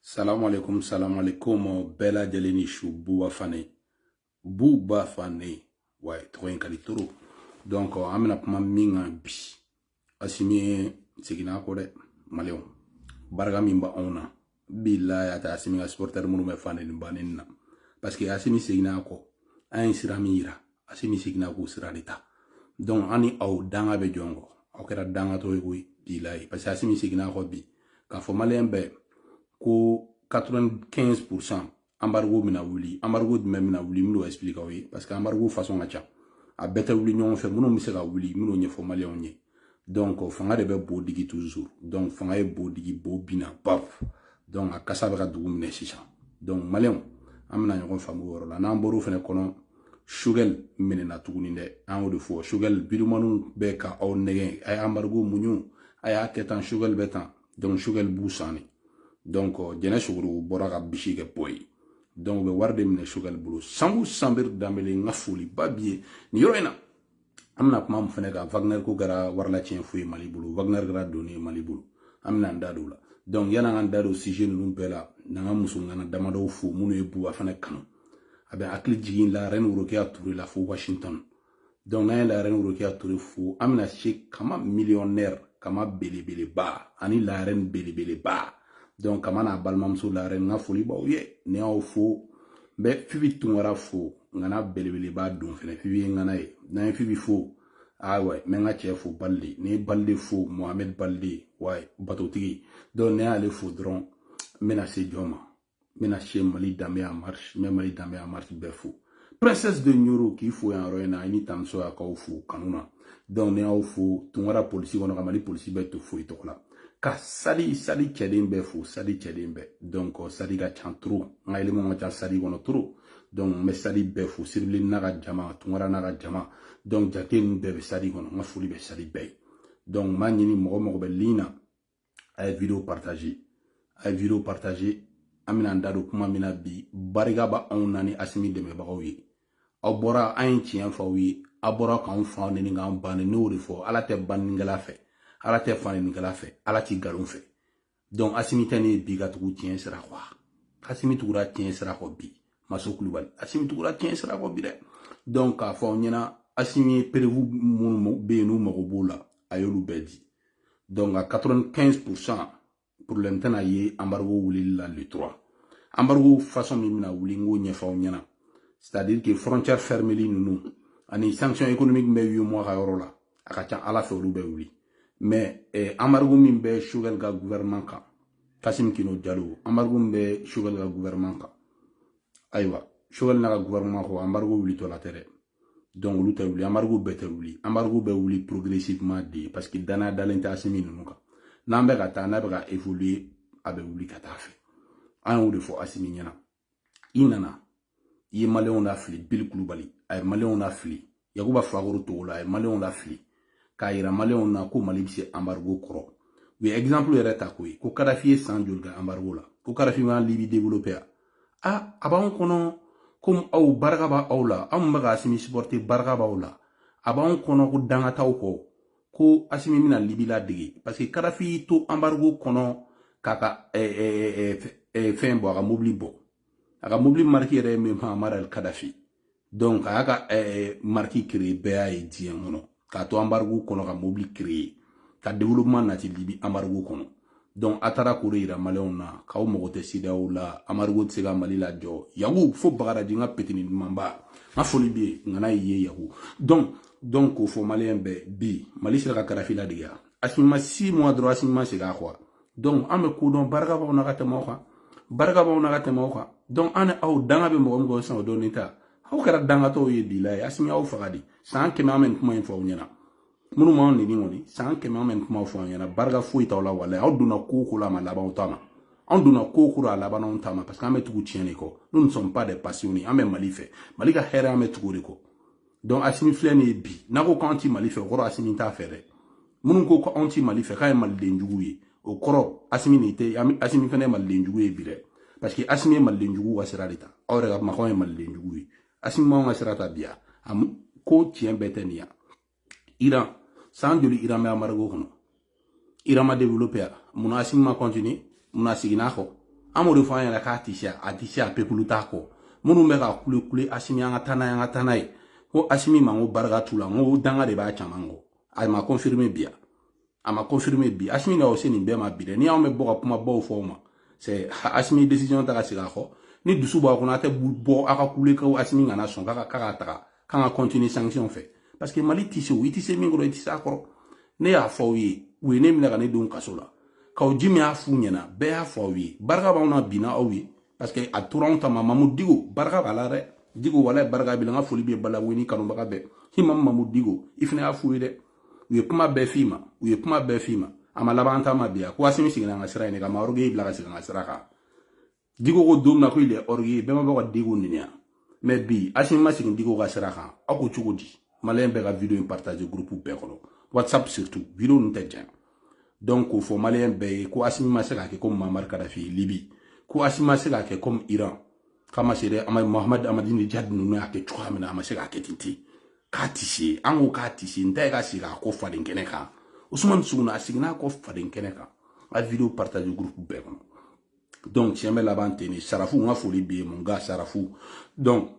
salamu alaikum salamu alaikum bɛɛ lajɛlen ni su buba fane buba fane wa tɔgɔ in ka di trop donc an bɛna kuma min kan bi asimi seginna kɔ dɛ maliyɛnw barika min bɛ anw na bilayi a tɛ asimi ka supporteur minnu bɛ faneni baneni na parce que asimi seginna kɔ an ye sira min yira asimi seginna k'o sira de ta donc an ni aw danga bɛ jɔn kɔ aw kɛra dangatɔ ye koyi bilayi parce que asimi seginna kɔ bi k'a fɔ maliyɛn bɛɛ ko 95 pourcent embargo bɛna wuli embargo jumɛn bɛna wuli n bɛn'o explique aw ye parce que embargo façon ka ca a bɛɛ tɛ wuli ɲɔgɔn fɛ minnu bɛ se ka wuli n bɛn'u ɲɛfɔ maliyɛnw ye donc fanga de bɛ bo digi toujours donc fanga ye bo digi bo binna paf donc a kasa bɛ ka dugu minɛ sisan donc maliyɛnw an bɛna ɲɔgɔn faamu o yɔrɔ la n'an bɔr'o fɛnɛ kɔnɔ sugɛli minɛna tuguni dɛ an y'o de fɔ sugɛli videomaniw bɛ ka aw nɛgɛn a ye embargo muɲu a y'a kɛ tan sugɛli bɛ tan donc sugɛli b'u san de donc jɛnɛ sogoro bɔra ka bisi kɛ bɔ ye donc u bɛ wari de minɛ sugɛli bolo sanbu sanbiri danbele n ka foliba b'i ye nin yɔrɔ in na an bɛna kuma min fana kan wagner ko kɛra warilatiɲɛ fu ye mali bolo wagner kɛra doni ye mali bolo an bɛna an da don o la donc yan'an k'an da don sije ninnu bɛɛ la n'an ka musomana damadɔw fo minnu ye buba fana kanu a bɛ hakili jigin la reine worokiya ture la fo washington donc n'an ye la reine worokiya ture fo an bɛna se kama millionnaire kama belebeleba ani la reine belebeleba donc kama n'a balimamuso la reine n ka foli b'aw ye ne y'aw fo n bɛ fibi tunkara fo ŋana belebeleba don fɛnɛ fibi ye ŋana ye n'an ye fibi fo ayiwa n bɛ n ka cɛ fo balide ne ye balide fo mohamɛd balide wa batotigi donc ne y'ale fo dɔrɔn n bɛna se jɔn ma n bɛna se mali danbe en marche n bɛ mali danbe en marche bɛɛ fo princesse de ɲoro k'i fo yan yɔrɔ in na i ni tanmuso y'a k'aw fo kanu na donc ne y'aw fo tunkara polisi kɔnɔ ka mali polisi bɛɛ tɔ fo i tɔgɔ la ka sadi sadi cɛden bɛɛ fo sadi cɛden bɛɛ donc sadi ka ca trop n ka élémentw ka ca sadi kɔnɔ trop donc n bɛ sadi bɛɛ fo siribili n'a ka jama tunkara n'a ka jama donc jate ninnu bɛɛ bɛ sadi kɔnɔ n ka foli bɛ sadi bɛɛ ye donc n b'a ɲini mɔgɔ o mɔgɔ bɛ ligne na a ye video partage a ye video partage an bɛna an da don kuma min na bi barika b'anw na ni asimi dɛmɛbagaw ye aw bɔra an ye tiɲɛ fɔ aw ye a bɔra k'anw fa neni k'an ba neni ne y'o de fɔ ala tɛ banenikɛla fɛ ala tɛ fanenikɛla fɛ ala tɛ nkalon fɛ donc asimi tɛ nin ye bi ka tugu tiɲɛ sira kɔ asimi tugura tiɲɛ sira kɔ bi maso kulubali asimi tugura tiɲɛ sira kɔ bi dɛ donc k'a fɔ aw ɲɛna asimi ye preuve minnu bɛ yen n'u mago b'o la a y'olu bɛɛ di donc a 95 pourcent problème tɛna ye embargo wulili la le 3 embargo façon min bɛna wuli n k'o ɲɛfɔ aw ɲɛna c'est à dire que frontière fermeli ninnu ani sanction économique min bɛ UEMOA ka yɔrɔ la a ka ca ala fɛ olu bɛ wuli mɛ eh, anbarigo min bɛ sogɛl ka guvɛrɛman kan kasim kino jalo anbarigo min bɛ sogɛl ka guvɛrɛman kan ayiwa sogɛl n'a ka guvɛrɛman kɔ anbarigo wulitɔla tɛ dɛ donc olu tɛ wuli anbarigo bɛɛ tɛ wuli anbarigo bɛ wuli progressivement de parce que danaya dalen tɛ asimi ninnu kan n'an bɛ ka taa n'a bɛ ka évoluer a bɛ wuli ka taa a fɛ an y'o de fɔ asimi ɲɛna i nana i ye maliyɛnw lafili bili kulubali a ye maliyɛnw lafili yakuba fakoro togola a ye maliyɛnw lafili k'a yira maliyɛnw na ko mali bɛ se anbarigo kɔrɔ u ye ɛgizanpulu yɛrɛ ta ko ye ko kadafi ye san joli kɛ anbarigo la ko kadafi ma libi develope a a a b'anw kɔnɔ komi aw barika b'aw la aw minnu bɛ ka asimi sipɔrite barika b'aw la a b'anw kɔnɔ ko danga t'aw kɔ ko asimi bɛna libi ladege parce que kadafi y'i to anbarigo kɔnɔ k'a ka fɛn bɔ a ka mobili bɔ a ka mobili mariki yɛrɛ ye min muamari el kadafi donc a y'a ka mariki créer bɛɛ y'a ye diɲɛ kɔnɔ k'a to anbarigo kɔnɔ ka mobili créer ka développement nati libi anbarigo kɔnɔ donc a taara k'o de yira maliyɛnw na k'aw mago tɛ sedeyawo la anbarigo tɛ se ka mali lajɔ yagu fo bagaraji n ka petini dumanba n ka foli bɛ yen ŋana y'i ye yagu donc donc k'o fɔ maliyɛn bɛɛ bi mali sera ka kadafi ladege a asimi ma six mois dɔrɔn asimi ma segin a kɔ donc an bɛ k'o dɔn barika b'anw na ka tɛmɛ aw kan barika b'anw na ka tɛmɛ aw kan donc an ni aw danga bɛ mɔgɔ min kɔ sisan o dɔnni ta aw kɛra dangatɔw ye bilayi asimi y'aw faga dɛ san kɛmɛ an bɛ nin kuma in fɔ aw ɲɛna minnu m'an neni kɔni san kɛmɛ an bɛ kuma fɔ aw ɲɛna barika foyi t'aw la walayi aw donna ko o ko la a ma laban aw ta ma an donna ko o ko la a labanna anw ta ma parce que an bɛ tugu tiɲɛ de kɔ nous ne sommes pas des passionnés an bɛ mali fɛ mali ka hɛrɛ an bɛ tugu o de kɔ donc asimi filɛ nin ye bi n'a ko k'an ti mali fɛ o kɔrɔ asimi t'a fɛ dɛ minnu ko ko anw ti mali fɛ k'an ye maliden jugu ye o kɔrɔ asimi nin tɛ asimi fana ye maliden jugu ye bi dɛ parce que asimi ye maliden jugu ka sira de ta aw yɛrɛ ka kuma k'anw ye maliden jugu ye asimi m'aw ka sira ta bi a ko tiɲɛ bɛɛ tɛ nin yan iran san joli iran bɛ anbarigo kɔnɔ iran ma développe a munna asimi ma continue munna a seginna a kɔ an b'o de fɔ an yɛrɛ k'a tɛ se a tɛ se a pepulu t'a kɔ minnu bɛ ka kule kule asimi an ka taa n'a ye an ka taa n'a ye ko asimi ma ko barika t'u la n ko danga de b'a caman kɔ a ma confirme bi yan a ma confirmer bi asimi na o se nin bɛɛ ma bi dɛ ni anw bɛ bɔ ka kumabaw fɔ o ma c'est asimi décision ta ka segin a kɔ ni dusu b'a kɔnɔ a tɛ bɔ a ka kule ko asimi kana sɔn k'a ka taga k'an ka continuer sanction fɛ parce que mali tɛ se o i tɛ se min kɔrɔ i tɛ se a kɔrɔ ne y'a fɔ aw ye u ye ne minɛ ka ne don kaso la k'aw ji min y'a f'u ɲɛna bɛɛ y'a fɔ aw ye barika b'anw na binna aw ye parce que a tora anw ta ma mamu digo barika b'a la dɛ digo wala barika b'i la n ka foli bɛ balawu ni kanubaga bɛɛ ye mamu mamu digo i fana y'a f'u ye dɛ u ye kuma bɛɛ f'i ma u ye kuma bɛɛ f'i ma a ma laban ta ma bi a ko asimi seginna an ka sira in de kan maroge y'i bila ka segin an ka sira kan diko ko don min na ko il est orgueilleux bɛɛ ma bɔ ka diko nɛni wa mais bi asimi ma segin diko ka sira kan aw ko cogo di maliyɛn bɛɛ ka video in partage groupe bɛɛ kɔnɔ whatsapp surtout video ninnu tɛ jɛn donc k'o fɔ maliyɛn bɛɛ ye ko asimi ma se k'a kɛ komi mamari kadafi libi ko asimi ma se k'a kɛ komi iran k'a ma se dɛ a ma mahamadu amadinijadi ninnu y'a kɛ cogoya min na a ma se k'a kɛ ten ten k'a tɛ se an ko k'a tɛ se n ta ye ka segin a kɔ faden kɛnɛ kan usumani suguna a seginna a kɔ faden kɛnɛ kan a video partage groupe bɛɛ kɔnɔ donc tiɲɛ bɛ laban ten de sarafu n ka foli bɛ yen mun ka sarafu donc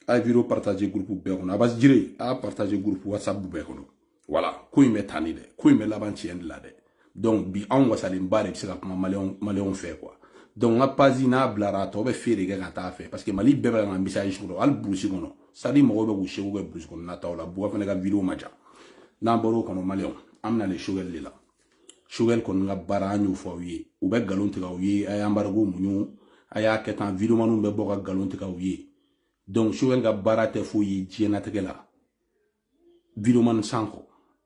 a video partage groupe bɛɛ kɔnɔ abasi jire a partage groupe whatsapp bɛɛ kɔnɔ wala ko in bɛ tan dɛ ko in bɛ laban tiɲɛ de la dɛ donc bi anw wasalenba de bɛ se ka kuma maliyɛnw fɛ quoi donc n ka page n'a bilara a tɔ bɛ fee de kɛ ka taa fɛ parce que mali bɛɛ bɛ ka message kɔnɔ hali burusi kɔnɔ sadi mɔgɔw bɛ k'u seko kɛ burusi kɔnɔna taw la buwa fana ka video ma ja n'an bɔr'o kɔnɔ maliyɛnw an bɛna le sogɛli de la sogɛli kɔni ka baara an y'o fɔ aw ye u bɛ nkalon tigɛ aw ye a y'anbarigo muɲu a y'a kɛ tan videomaniw bɛ bɔ ka nkalon tigɛ aw ye donc sogɛli ka baara tɛ foyi ye diɲɛnatigɛ la videomani san kɔ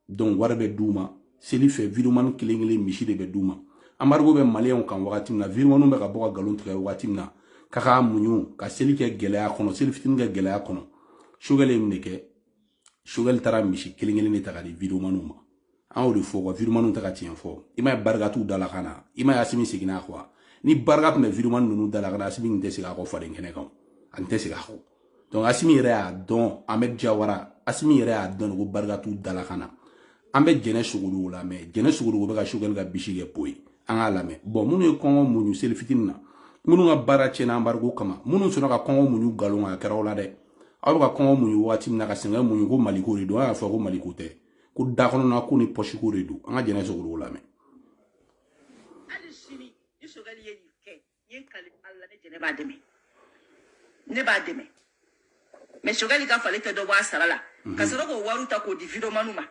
donc wari bɛ d'u ma seli fɛ videomani kelen kelen misi de bɛ d'u ma anbarigo bɛ maliyɛnw kan wagati min na videomaniw bɛ ka bɔ ka nkalon tigɛ wagati min na k'a k'a muɲu ka seli kɛ gɛlɛya kɔnɔ seli fitini kɛ gɛlɛya kɔnɔ sogɛli ye nin de kɛ sogɛli taara misi kelen kelen de ta k'a di videomaniw ma an y'o de fɔ ko videomaniw tɛ ka tiɲɛ fɔ i m'a ye barika t'u da la ka na i m'a ye asimi seginna a kɔ wa ni barika tun bɛ videomani ninnu da la ka na asimi tun tɛ segin a kɔ faden kɛnɛ kan a tun tɛ segin a kɔ donc asimi yɛrɛ y'a dɔn ahmed jawara asimi yɛrɛ y'a dɔn ko barika t'u da la ka na an bɛ jɛnɛ sogodogo la mɛ jɛnɛ sogodogo bɛ ka sogɛli ka bisi kɛ po ye an k'a lamɛn bɔn minnu ye kɔngɔ muɲu seli fitini na minnu ka baara tiɲɛna anbarigo kama minnu sɔnna ka kɔngɔ muɲu nkalon a kɛra o la dɛ aw bɛ ka kɔngɔ muɲu waati min na ka sɛgɛn muɲu ko maliko de don a y'a fɔ ko maliko tɛ ko da kɔnɔna ko ni pɔsiko de don an ka jɛnɛ sogodogo lamɛn hali sini ni sogɛli ye nin kɛ n ye kali ala ne jɛnɛ b'a dɛmɛ ne b'a dɛmɛ mɛ sogɛli k'a f'ale tɛ dɔ bɔ a sara la mhm. ka sɔrɔ k'o wariw ta k'o di vidomaniw ma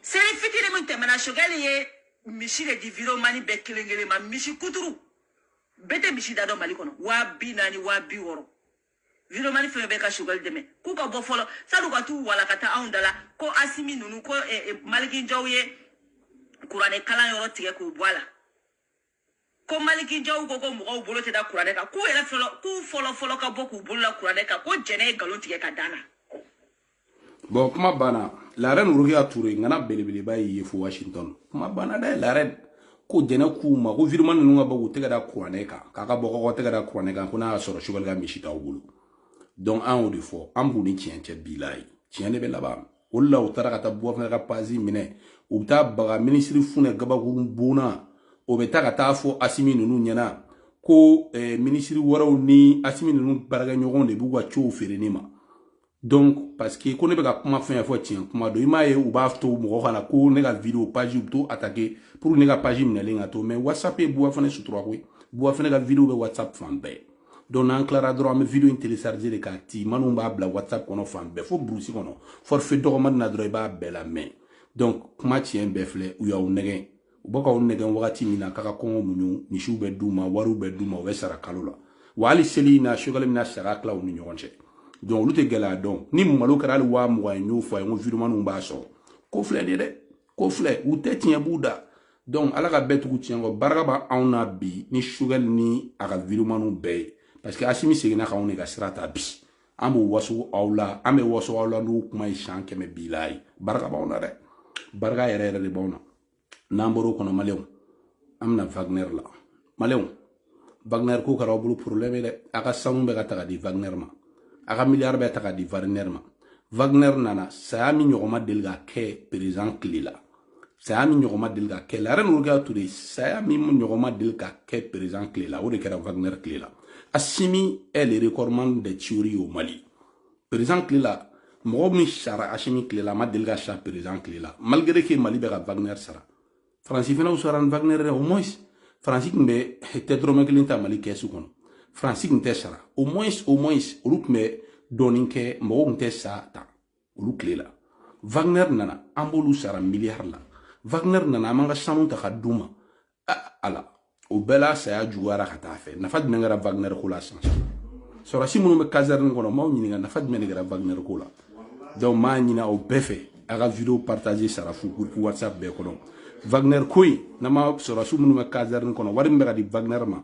seli fitini min tɛmɛna sogɛli ye misi de di vidomani bɛɛ kelen kelen ma misi kuturu bɛɛ tɛ misi da dɔn mali kɔnɔ waa bi naani waa bi wɔɔrɔ vidomani fɛn bɛ ka sogɛli dɛmɛ k'u ka bɔ fɔlɔ sann'u ka t'u wala ka taa anw da la ko asimi ninnu ko eh, eh, maliki jaw ye kuranɛ kalan yɔrɔ tigɛ k'u bɔ a la ko maliki jaw ko ko mɔgɔw bolo tɛ da kuranɛ kan k'u yɛrɛ fɔlɔ k'u fɔlɔ fɔlɔ ka bɔ k'u bolo la kuranɛ kan ko jɛnɛ ye nkalon tigɛ k'a d'an na bon kuma banna la reine rokia toure ngana belebeleba ye ye fo washington kuma banna dɛ la reine ko jɛnɛ k'u ma ko videoman ninnu ka bɔ k'u tɛgɛ da kuranɛ kan k'a ka bɔ k'aw tɛgɛ da kuranɛ kan ko n'a y'a sɔrɔ choguel ka misi t'aw bolo donc an y'o de fɔ an b'u ni tiɲɛ ce bi la ye tiɲɛ de bɛ laban o de la u taara ka taa bouba fane ka page minɛ u bɛ taa baga minisiri funɛ gabakurun bonna o bɛ taa ka taa fɔ asimi ninnu ɲɛna ko eh, minisiri wɛrɛw ni asimi ninnu baarakɛɲɔgɔnw de b'u ka cow feere ne ma donc parce que ko ne bɛ ka kuma fɛn fɛn fɔ tiɲɛ kuma don i m'a ye u b'a to mɔgɔ kana ko ne ka video page bɛ to attaquer pour ne ka page minɛlen ka to mais whatsapp ye bouba fane sutura koyi bouba fane ka video bɛ whatsapp fan bɛɛ donc n'an tilara dɔrɔn an bɛ video in télécharger de k'a ti minnu b'a bila whatsapp kɔnɔ fan bɛɛ fo burusi kɔnɔ forfait dɔgɔmani na dɔrɔn i b'a bɛɛ lamɛn donc kuma tiɲɛ bɛɛ filɛ u y'aw nɛgɛn u bɛ k'aw nɛgɛn wagati min na k'a ka kɔngɔ muɲu misiw bɛ d'u ma wariw bɛ d'u ma u bɛ sara kalo la wa hali seli in na choguel bɛna saga tila u ni ɲɔgɔn cɛ donc olu tɛ gɛlɛya dɔn ni malo kɛra hali waa mugan ye n y'o fɔ a ye n ko videomanw b'a sɔrɔ ko filɛ nin ye dɛ ko filɛ u tɛ tiɲɛ b'u da donc ala ka bɛɛ tugu tiɲɛ kɔ barika b'anw na bi ni choguel ni a ka videomanw bɛɛ ye parce que asimi seginna k'anw de ka sira ta bi an b'o waso aw la an bɛ waso aw la n'o kuma ye siɲɛ kɛmɛ bi la ye barika b'anw na dɛ barika yɛrɛ yɛrɛ de b'anw na n'an bɔr'o kɔnɔ maliyɛnw an bɛna wagner la maliyɛnw wagner ko kɛra aw bolo problème ye dɛ a ka sanu bɛ ka ta ka di wagner ma a ka miliyari bɛ ta ka di wagner ma wagner nana saya min ɲɔgɔn ma deli ka kɛ perezan tile la saya min ɲɔgɔn ma deli ka kɛ la reine rokia toure saya min ɲɔgɔn ma deli ka kɛ perezan tile la o de kɛra wagner tile la asimi est le recordman de tuerie au mali perezan tile la mɔgɔ min sara asimi tile la a ma deli ka sa perezan tile la malgré que mali bɛ ka wagner sara faransi fana sara ni wagner dɛ au moins faransi tun bɛ tɛ dɔrɔmɛ kelen ta mali kɛsu kɔnɔ faransi tun tɛ sara au moins au moins olu tun bɛ dɔɔnin kɛ mɔgɔw tun tɛ sa tan olu tile la wagner nana an b'olu sara miliyari la wagner nana an b'an ka sanu ta ka d'u ma ala o bɛɛ la saya juguyara ka taa fɛ nafa jumɛn kɛra wagner ko la sisan sɔrɔsi minnu bɛ kasɛrɛni kɔnɔ m'aw ɲininka nafa jumɛn de kɛra wagner ko la donc m'a ɲinin aw bɛɛ fɛ a ka video partage surtout groupe whatsapp bɛɛ kɔnɔ wagner ko in n'a ma sɔrɔsi minnu bɛ kasɛrɛni kɔnɔ wari min bɛ ka di wagner ma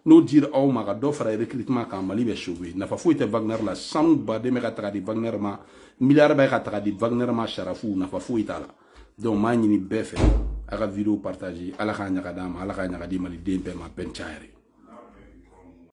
n'o dira aw ma ka dɔ fara recrutement kan mali bɛ sauver nafa foyi tɛ wagner la sanu ba de bɛ ka taga di wagner ma miliyari bɛ ka taga di wagner ma sara fu nafa foyi t'a la donc m'a ɲini bɛɛ fɛ a ka video partage ala k'a ɲaga d'a ma ala k'a ɲaga di maliden bɛɛ ma bɛn siɲɛ wɛrɛ